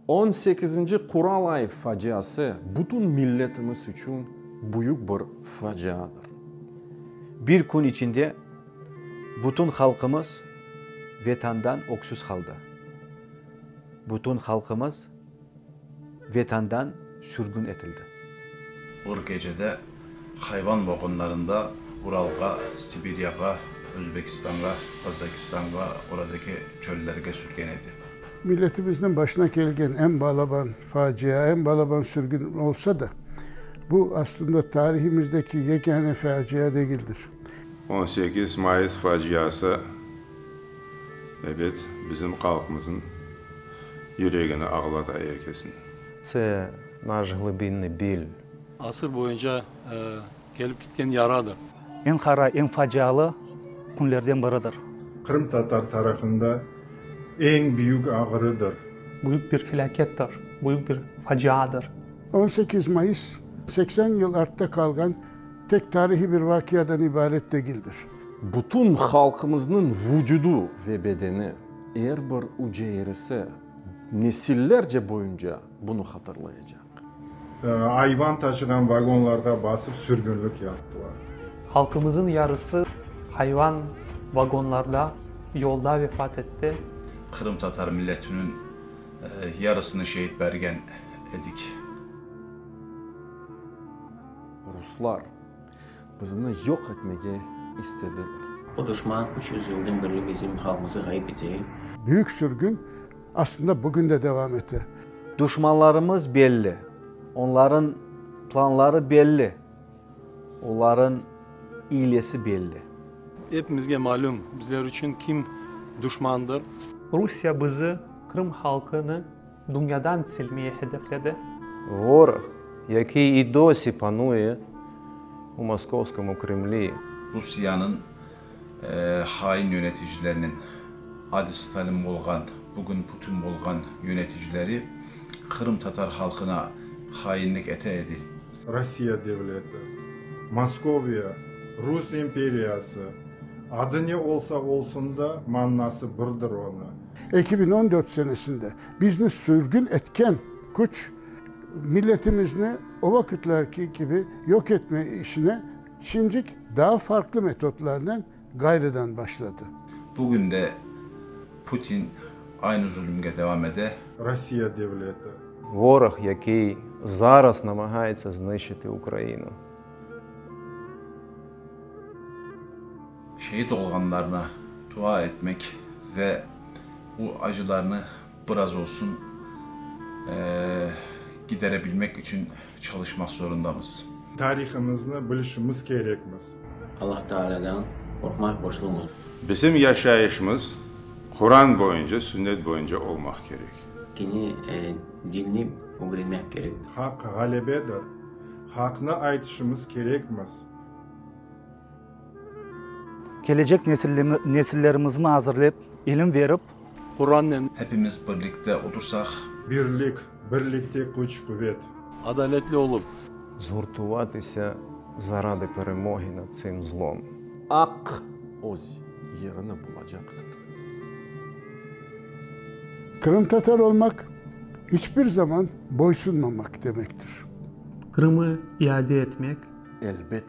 On sekizinci Quralay faciası bütün milletimiz içün büyük bir faciadır. Bir kün içinde bütün halqımız Vetandan öksüz qaldı. Bütün halqımız. Vetandan sürgün etildi. Bir gecede hayvan boğunlarında Uralğa, Sibiryağa, Özbekistanğa, Qazakistanğa, oradaki çöllerge sürgen edi. Milletimizniñ başına kelgen eñ balaban facia, eñ balaban sürgün olsa da, bu, aslında, tarihimizdeki yegâne facia degildir. On sekiz mayıs faciası. Ebet, bizim qalqmızın yüregini ağlata er kesin. Tse, naş glibinniy bil. Asır boyunca kelip gitken yaradır. Eñ qara, eñ facialı künlerden biridir. Qırımtatar tarafında eñ büyük ağrıdır. Büyük bir felâkettir, büyük bir faciadır. On sekiz mayıs, seksen yıl artta qalğan. Tek tarihiy bir vaqiadan ibaret degildir. Bütün halqımıznıñ vucudu ve bedeni, er bir uceyresi nesillerce boyunca bunı hatırlayacaq. Ayvan taşığan vagonlarğa basıp sürgünlik yaptılar. Halqımıznıñ yarısı hayvan vagonlarda, yolda vefat etti. Qırımtatar milletiniñ yarısını şehit bergen edik. Ruslar bizni yoq etmege istediler. O duşman üç yüz yıldan berli bizim halqımızı ğayıp ete. Büyük sürgün aslında bugün de devam ete. Duşmanlarımız belli, onların planları belli, oların iylesi belli. Epimizge malüm, bizler içün kim duşmandır. Rusiya bizi, Krım halqını Dünyadan silmeye hedefledi. Vor yaki i do si panue u Moskovskomu Kremli. Rusiyanıñ hain yöneticileriniñ adi Stalin bolğan, bugün Putin bolğan yöneticileri qırımtatar halqına hainlik ete edi. Rossiya devleti, Moskoviya, Rus imperiyası, adı ne olsa olsun da, mannası birdir onı. Eki biñ on dört senesinde bizni sürgün etken küç milletimizni o vaqıtlarki kibi yoq etme işine şimdik daa farqlı metodlarnen ğayrıdan başladı. Bugün de Putin aynı zulümge devam ede. Rossiya devleti. Vorog, yakey zaraz namagaitsa znıçiti Ukrainu. Şehit olğanlarına dua etmek ve bu acılarnı biraz olsun giderebilmek içün çalışmaq zorundamız. Tarihımıznı bilişimiz kerekmiz. Allah Taalâdan qorqmaq borçlumız. Bizim yaşayışımız Quran boyunca, Sünnet boyunca olmaq kerek. Kene dinni ögrenmek kerek. Haq ğalebedir. Haqnı aytışımız kerekmiz. Kelecek nesillerimizni azırlep, ilim verip. Qurannen. Hepimiz birlikte otursaq. Birlik, birlikte küç, quvet. Adaletli olup. Zhurtuvatise zaradi peremogi nad tsim zlom. Aq öz yerini bulacaqtır. Qırımtatar olmaq, iç bir zaman boysunmamaq demektir. Qırımı iade etmek. Elbet.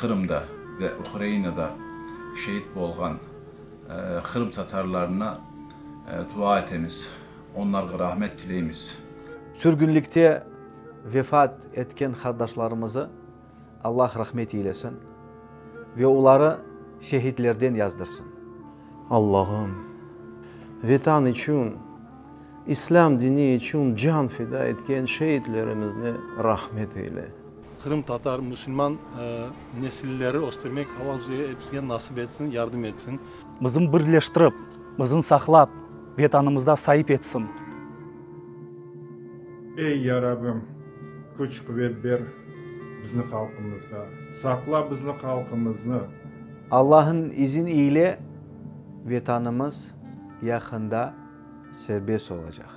Qırımda ve Ukrainada şeet bolğan Qırım tatarlarına dua etemiz, onlarğa rahmet tileymiz. Sürgünlikte vefat etken qardaşlarımızı Allah rahmet eylesin ve oları şehitlerden yazdırsın. Allahım, Vetan içün, İslâm dini içün can fida etken şeitlerimizni rahmet eyle. Qırımtatar musulman nesilleri östürmek Alla bize epizge nasip etsin, yardım etsin. Bizim birleştirip, bizim saqlap, Vetanımızda saip etsin. Ey Ya Rabim, küç quvet ber bizni halqımızğa, saqla bizni halqımıznı. Allahın izin iyle Vetanımız yaqında serbest olacaq.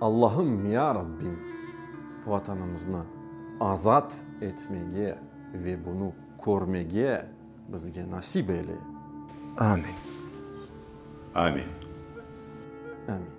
Allahım, Ya Rabbim, Vatanımıznı azat etmege ve bunı körmege bizge nasip eyle. Amin. Amin. Amin.